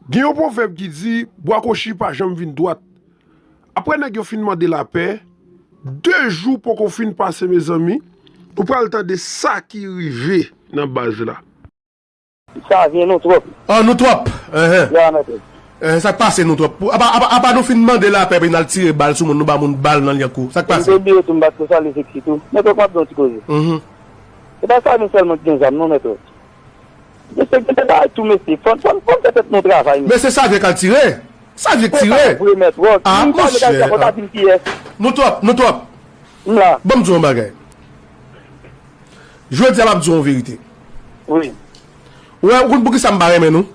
Gen yon pwovèb ki di, Bwa kochi pa janm vin dwat. Aprè nèg yo fin mande lapè, de jou poko fin pase mezanmi, nou pral tande sa ki rive nan baz la. Sa vyen nou twòp. An nou twòp. Enhen. Lè a mètèd. Enhen sak pase nou twòp. Apa nou fin mande lapè epi nal tire bal sou moun, nou ba moun bal nan lyankou. Sak pase. Mte bliye tou mbat ko salye seksi tou. Mèt ok map gen yon ti koze. Enhen. Se pa Samy sèlman ki gen zam non mèt ok. Mesye gen de bagay tou mesye fòn fòn fòn fè tèt nou travay mesye. Mesye sa vye kal tire. Sa vye k tire. Fò sa vre mèt wòl. Ah Siw pa vle kal tire monchè fò ta dim kiyès. Nou twòp nou twòp. M la. Banm di w yon bagay. Jodi a map di w yon verite. Wi. Ou wè ou konn poukisa m pa renmen nou?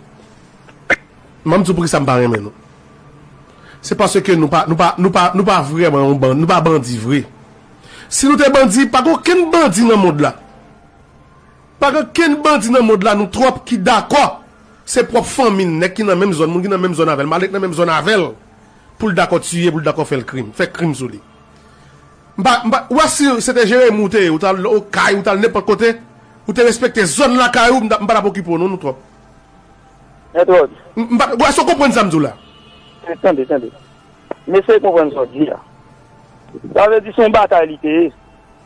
Banm di w poukisa m pa renmen nou. Se paske nou pa nou pa nou pa nou pa vrèman yon bandi nou pa bandi vre. Si nou te bandi pa gen okenn bandi nan mond la. Pa gen kenn bandi nan mond la nou trop ki dakò se prop fanmi n nèg ki nan menm zòn moun ki nan menm zòn avèl malè ki nan menm zòn avèl poul dakò tiye poul dakò fèl krim fè krim sou li m pa m pa ou wè si se te Jeremi ou te ye ou tal okay ou tal nenpòt kote ou te respekte zòn lakay ou m ta m pa tap okipe w non nou trop Entwòd. m pa ou èske w konprann sa m di w la. Tande tande tande m eseye konprann sa w di a sa vle di se yon batay li te ye.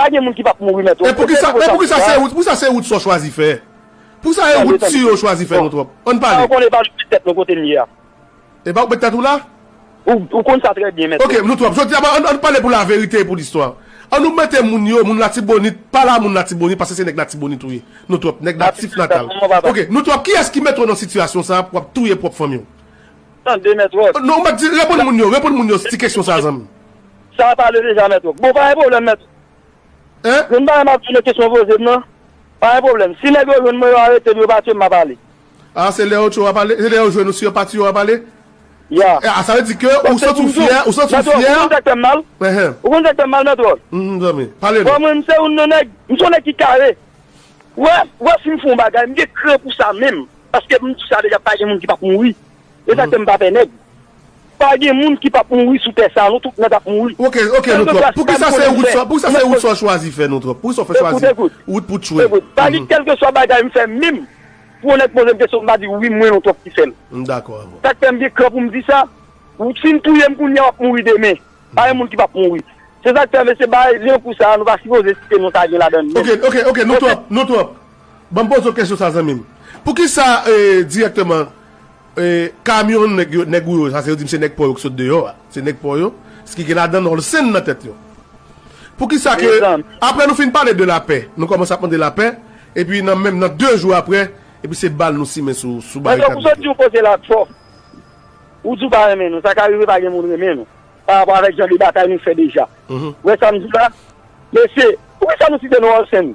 Pa gen moun ki pap mouri mèt wòch. Men poukisa se Woodson chwazi fè? Poukisa e wout si yo chwazi fè nou twòp? Ann pale. Sa ou konn epa ou k met tèt nou kote m ye a. Epa ou k met tèt ou la? Ou konn sa trè byen mèt. Ok nou twòp. Jodi a bon ann pale pou laverite e pou listwa. An nou mete moun yo, moun latibonit, pala moun latibonit paske se nèg latibonit ou ye. Nou twòp. Nèg natif natal. Ok nou twòp. Kiyès ki mete w nan sitiyasyon sa pou wap touye pwòp fanmi w? Tande mèt wòch. Non mwen di reponn moun yo, reponn moun yo ti kesyon sa zanmi. Sa a pale deja mèt ok. Bon pa gen pwoblèm mèt. Hein? Yon bagay map di nan kesyon poze m nan, pa gen pwoblèm. Si nèg yo jwenn mwen yo arete m yo ba tye m map ale. Ah se lè yo tye w wap ale? Se lè yo jwenn ou si yo pa tye w wap ale? Yeah. Ah sa vle di ke ou Paske santi pou w m di w, fyè, ou santi w mèt Ròch, ou fyè? konn sa k fè m mal? Ehe. Ou konn sa k fè m mal mèt Ròch? Mph zanmi, pale Bon nou. mwen m se youn nan nèg, m se yon nèg ki kare. Wè, wè si m fè yon bagay m gen kran pou sa menm. Paske m di sa deja pa gen moun ki pap mouri. E sak fè m pa pè nèg. Pa gen moun ki pap mouri sou tè sa nou tout nèg ap mouri. Ok ok nou trop poukisa se rout sa poukisa se rout sa w chwazi fè nou trop poukisa w fè chwazi rout pou tchwe. Ekout pa gen kelkeswa bagay m fè menm pou yon nèg poze m kesyon m pa di wi mwen nou trop ki fè l. M dakò avè w. Sak fè m gen kran pou m di sa si n touye m kounya w ap mouri demen pa gen moun ki pap mouri se sak fè mesye bagay jan kou sa nou pa sipoze site non sa gen ladan l menm. Ok ok ok nou trop nou trop. Ban m poze w kesyon sa zanmi m. Poukisa dirèkteman kamyon nèg ou yo, sa se yo di m se nèg pò yo ki sot deyò a, se nèg pò yo, ski gen ladan Olsen nan tèt yo. Poukisa ke aprè nou fin pale de lapè, nou kòmanse ap mande lapè, epi nan menm nan 2 jou aprè, epi se bal nou simen sou barikad nèg yo. Mwen sot di w koze la twò. Ou di w pa renmen nou, sa ka rive pa gen moun renmen nou, pa rapò avèk jan de batay nou fè deja. Ou wè sa m di w la? Mesye, poukisa nou site non Olsen?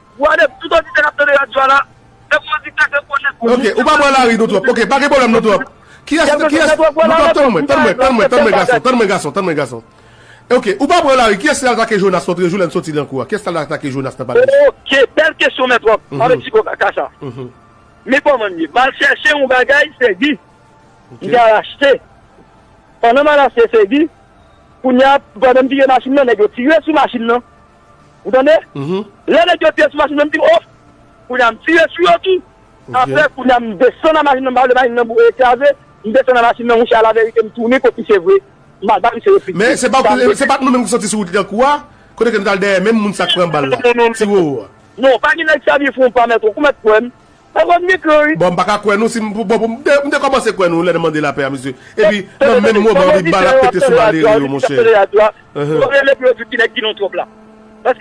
Wadèp tout oditè kap tande radyo a la se pou yo di kèk rekonèt pou moun ki pran lari nou twòp ok pa gen pwoblèm nou twòp kiyès nou twòp tann mwen tann mwen tann mwen tann mwen gason tann mwen gason tann mwen gason ok ou pa pran lari kiyès ki al atake jonas lotre jou lè n soti nan kou a kiyès ki tal atake jonas nan pale di ok bèl kesyon mèt wòm avèk ti gwo kaka sa men kòman m ye mal chèche yon bagay fegi m te al achte pandan m al achte fegi kounya pandan m vire machin nan nèg yo tire sou machin nan Ou tande? Lè nèg yo te sou machin nan m di oh! Kounye a m tire sou yo tou. Aprè kounye a m desann nan machin nan m pa vle machin nan boure e kraze. M desann nan machin nan mouche alaverite m tounen kot misye vre. M al ba misye replik tou. Men se pa t nou menm ki soti sou wout Lidankou a? Kote ke nou t al dèyè menm moun sa k pran bal la? Ti Roro a? Non, pa gen nèg sèvi fon pa mèt ou. Ou mèt kwè m. Nan vòt mikro wi. Bon m paka kwè nou si m pou bon pou m m te kòmanse kwè nou lè n mande lapè a mesye epi nan menm moman wi bal ap pete sou Martelly yo monchè Nou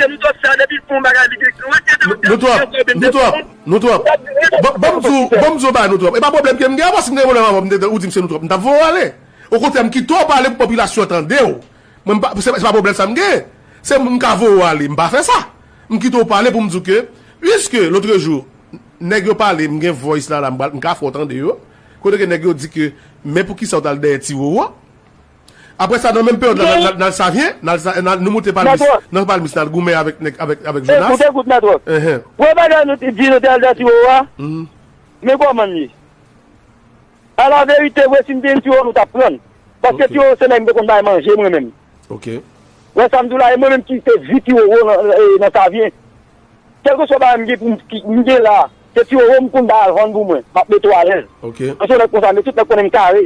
twòp Nou twòp Nou twòp Banm di w banm di w yon bagay nou twòp e pa pwoblèm ke m gen avè w si m te gen pwoblèm avè w ou di m se nou twòp m tap voye w ale okontrè m kite w pale pou popilasyon tande w Mwen pa, se pa pwoblèm sa m gen. Se m ka voye w ale, m pa fè sa. M kite w pale pou m di w ke, puiske lotrejou nèg yo pale, m gen voice la la, m pral, m ka fè w tande yo, kote ke nèg yo di ke men pou kisa w t al dèyè Ti Roro. Aprè sa nan menm peryòd la n al Savyen, n al sa, nou moute palmis, nan palmis n al goumen avèk nèg, avèk, avèk Jonas. Ekout, ekout Mètrò. Wè bagay nou te di nou te al dèyè Ti Roro a? Men kòman l ye? A la verite vre sim te yn tiyo nou tap prann paske tiyo se nèg m te konn bay manje mwen menm wè sam diw la e mwen menm ki te vi tiyo nan savyen kelke swa bagay m gen poum m gen la se tiyo m konn bay al vann pou mwen map mete w alèz mwen se yon nèg konsa men tout nèg konnen m kare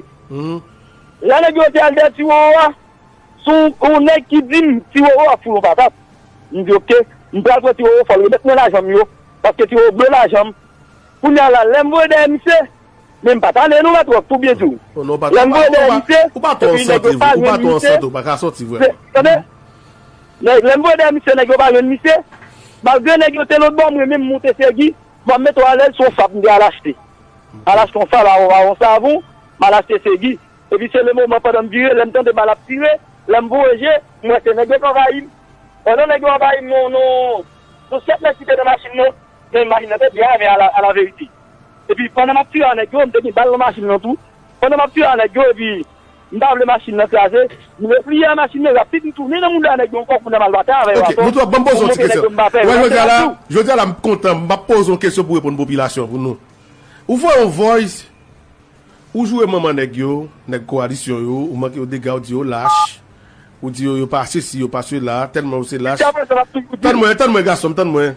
lè nèg yo te al dèyè tiyo a sou yon nèg ki dim tiyo ap foure yon patat m di ok m pral pran tiyo fòl remèt mwen lajan m yo paske tiyo vle lajan m kounya la lèm voye dèyè misye Men m pa tande nou la twòp tou byen di w. Non non patap Lanmou e deyite Ou pa twò an sante vre Ou pa twò an sante ou pa ka sòti vrèman. Ou pa twò an sante Tande Lanmou e deyite misye nèg yo pa jwenn misye Malgre nèg yo te lotbò mwen menm moute fegi m ap mete w alèz son fab m te al achte Al achte yon fab avon yon savon m al achte fegi Epi se le moman pandan m vire lè m tande bal ap tire lè m voye je m wè se nèg yo k anvayi m Pandan nèg yo anvayi m non non non 7 nèg ki te nan machin nan men machin nan te byen ame alaverite. epi pandan map tire a nèg yo m te gen bal nan machin lan tou pandan map tire a nèg yo epi m pa vle machin lan kraze m repliye a machin lan rapid m tounen nan mouda a nèg yo ankò kounye a mal batay avè yo atò pou m monte nèg yo m pa pè wèl se la tou. Jodi a la m kontan m pap poze w kesyon pou w reponn popilasyon pou nou. Ou voye yon voice ou joure manman nèg yo, nèg kowalisyon yo, ou manke yo dega ou di yo lach, ou di yo yo pa sesi yo pa sela, tèlman yo se lach. Jiskaprezan map toujou di l. Tann mwen tann mwen gason m tann mwen.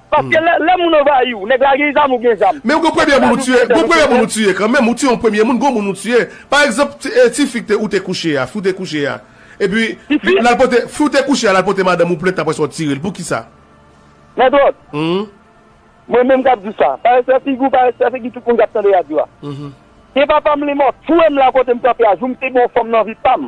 Paske lè moun anvayi ou, nèg la gen zam ou gen zam. Men ou gen premye moun ou tiye, gen premye moun ou tiye kanmenm, ou tiye yon premye moun, gen yon moun ou tiye. Pa egzanp, tifi ke ou te kouche a, fi ou te kouche a. Epi, l al pote, fi ou te kouche a, l al pote madanm ou plent apre sa ou tire l. Poukisa? Mètrot, mwen menm k ap di sa, pa respè figi ou, pa respè figi tout moun k ap tande radyo a. Ke papa m lemò touye m la kote m kanpe a, jou m te gen yon fanm nan vi pa m.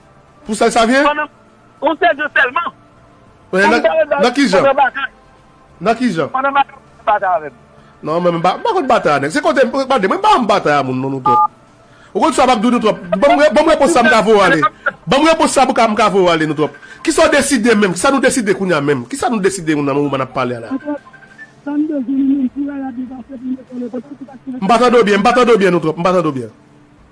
Pou sa sa vye? Pandan Ou se Dieu selman. Nan ki jan? Nan ki jan? Pandan batay ou pa batay avè m. Non mwen m pa konn batay a nèg. Se kote gade mwen m pa konn batay a moun non nou twòp. Ou konn sa m ap di w nou twòp. Ban m repons sa m ka voye ale. Ban m repons sa m ka voye ale nou twòp. Kisa w deside menm? Kisa nou deside kounye a menm? Kisa nou deside menm nan moman n ap pale a la? An twòp, sa m bezwen nou menm pou rara byen pase pou m retounen kote m se pa ti rete. M pa tande w byen, m pa tande w byen nou twòp, m pa tande w byen.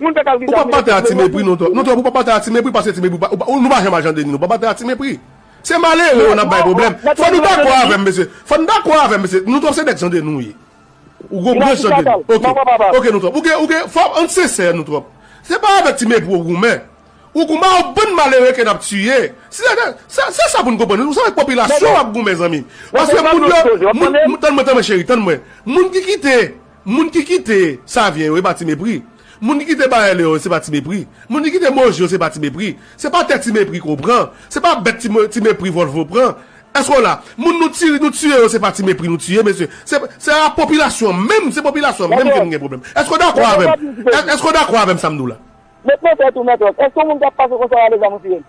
Moun pè kal Ou pa batay a ti mepri non Tòp. Non Tòp ou pa batay a ti mepri pase ti mepri pa ou nou pa janm al jan deni nou pa batay a ti mepri. Se malere yo nap bay pwoblèm. Fò nou dakò avèm mesye. Fò nou dakò avèm mesye. Nou Tòp se nèg jan deni ou ye. Ou gwo branch jan deni. Ok. Ok nou Tòp. Ou gen ou gen fò ann sensè nou Tòp. Se pa avèk ti mepri ou goumen. Ou goumen ak yon bann malere ke nap tiye. Si se te sa se sa pou nou konprann. Ou se avèk popilasyon wap goumen zanmi. Paske moun yo moun tann mwen tann mwen cheri tann mwen. Moun ki kite Moun ki kite Savyen yo, e pa ti mepri. Moun ki kite Bayè Leon yo, se pa ti mepri. Moun ki kite Moji yo, se pa ti mepri. Se pa tè ti mepri ke w pran. Se pa bèt ti mepri Volvo pran. Èske w la? Moun nou tire, nou tiye yo, se pa ti mepri nou tiye, mesye. Se, se a popilasyon an menm, se popilasyon an menm ke nou gen pwoblèm. Èske w dakò avè m? Èske w dakò avè m sa m di w la? Met nan tèt ou, Mètòs, èske yon moun ka pase konsa a lezam ou tiye l?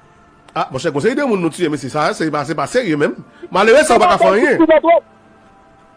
A, monchè, gon seri de moun nou tiye, mesye. Sa a, se pa, se pa serye menm. Malere sa a ou pa ka fè anyen.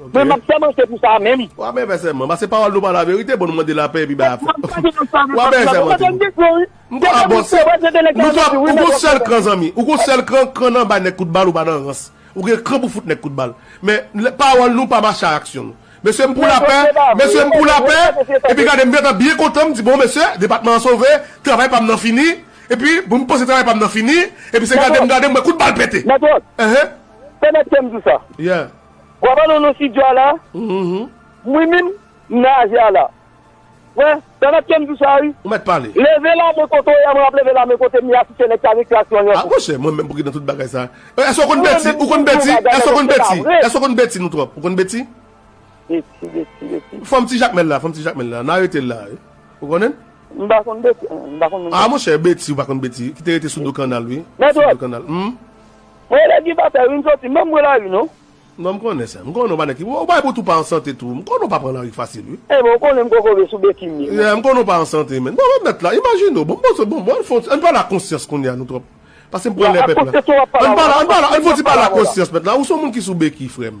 Ok. Mwen map sèmante pou sa menm. Wa byen fè sèman. Pase pawòl nou pa la verite, bon nou mande lapè epi bay afè. Wa byen sèmante pou nou. M pa bon se Nou twò ou gon sèl kran zanmi ou gon sèl kran kran nan bay nèg kout bal ou pa nan rans ou gen kran pou fout nèg kout bal men pawòl nou pa mache a aksyon nou mesye m pou lapè mesye m pou lapè epi gade m gentan byen kontan m di bon mesye depatman an sove travay pa m nan fini epi m panse travay pa m nan fini epi se gade m gade m wè kout bal pete mèt wòd pèmèt ke m di sa yeah Wap al nan studio a la? Mwen menm m nan aze a la. Wè, pèmèt kem di sa wi. Ou mèt pale. Leve la men kote w ye a mwen ap leve la men kote m ye a si se nèg sa nik las lan yon kou. Monchè mwen menm pou ki nan tout bagay sa. Èske w konn Betty? Ou konn Betty? Èske w konn Betty? Èske w konn Betty nou twòp? Ou konn Betty? Betty, Betty, Betty. Fanm ti Jakmèl la, fanm ti Jakmèl la. Nan arete l la. Ou konnen l? M pa konn Betty. M pa konn moun sa. A monchè Betty ou pa konn Betty. Ki te rete sou do kannal wi. Mèt wòd. Sou do kannal. Hum. Mwen elèv ki pa fè wi m soti menm pran lari non. Non m konnen sa. M konnen w pa nèg ki bon. Ou bay pou tou pa an sante tou. M konnen w pa pran lari fasil wi. Enben ou konnen m kokobe sou beki m ye menm. Yeah m konnen w pa an sante menn. Bon remèt la imajine w bon m poze bon bon ann fon ti ann pale ak konsyans kounya nou twòp pase m pran lè pèp la. Ann pale ak konsyans ou ap pale avè w la. Ann pale ak konsyans ou ap pale avè w la. Ann pale ann fon ti pale ak konsyans mèt la ou son moun ki sou beki frè m.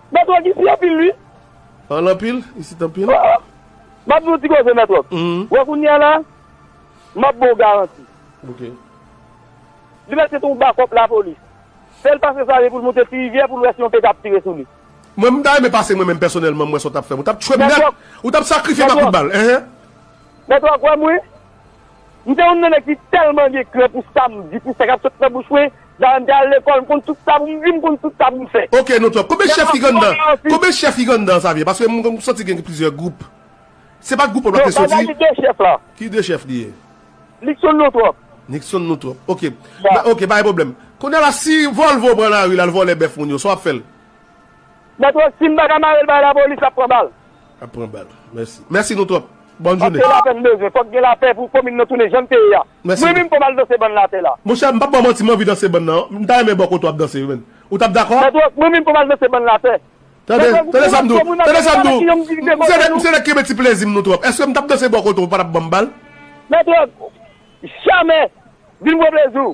Mèt Rog isi anpil ui. An l anpil, isit anpil. Oh oh M ap di w yon ti koze Mèt Rog. Wè kounye a la, m ap ba w garanti. Ok. Li mèt se te yon bakòp lapolis. Fè l pase Save pou l moute Tirivyè pou l wè si yon pete ap tire sou li. Mwen m ta renmen pase mwen menm pèsonèlman m wè sa w t ap fè m. Ou t ap tchwe m nèt. Ou t ap sakrifye m a kout bal. Ehe. Mèt Rog wè m wi. M se youn nan nèg ki tèlman gen krè pou sa m di, pou sa k ap sot nan bouch mwen, daye m te al lekòl, m konn tout sa pou m di, m konn tout sa pou m fè. Ok nou twòp. Konbyen chèf ki gen anndan an? Konbyen chèf ki gen anndan an Xavier? Paske m santi gen plizyè gwoup. Se pa gwoup wè m ap te soti? Non, Xavier gen 2 chèf la. Ki 2 chèf li ye? Nickson nou twòp. Nickson nou twòp. Ok. Ok, pa gen pwoblèm. Kounya la si Volvo pran lari l al vòlè bèf moun yo, sa w ap fè l? Mèt Rock, si m pa ka mare l bay lapolis, l ap pran bal. Ap pran bal. Mèsi. Mèsi nou twòp. Bòn jounen. Ase lapè n bezwen. Fòk gen lapè pou komin nan tounen jan l te ye a. Mèsi. Mwen menm fò m al danse bann lapè la. Monchè, m pap ba w manti, m anvi danse bann nan. M ta renmen bò kote w ap danse yo menn. Ou t ap dakò? Mèt Wòch, mwen menm fò m al danse bann lapè. Tande, tande sa m di w. Tande sa m di w. M se nèg, m se nèg ki renmen ti plezi m nou twòp. Èske m t ap danse bò kote w ou pa t ap ban m bal? Mèt Wòch, jamè! Vin pran plezi w.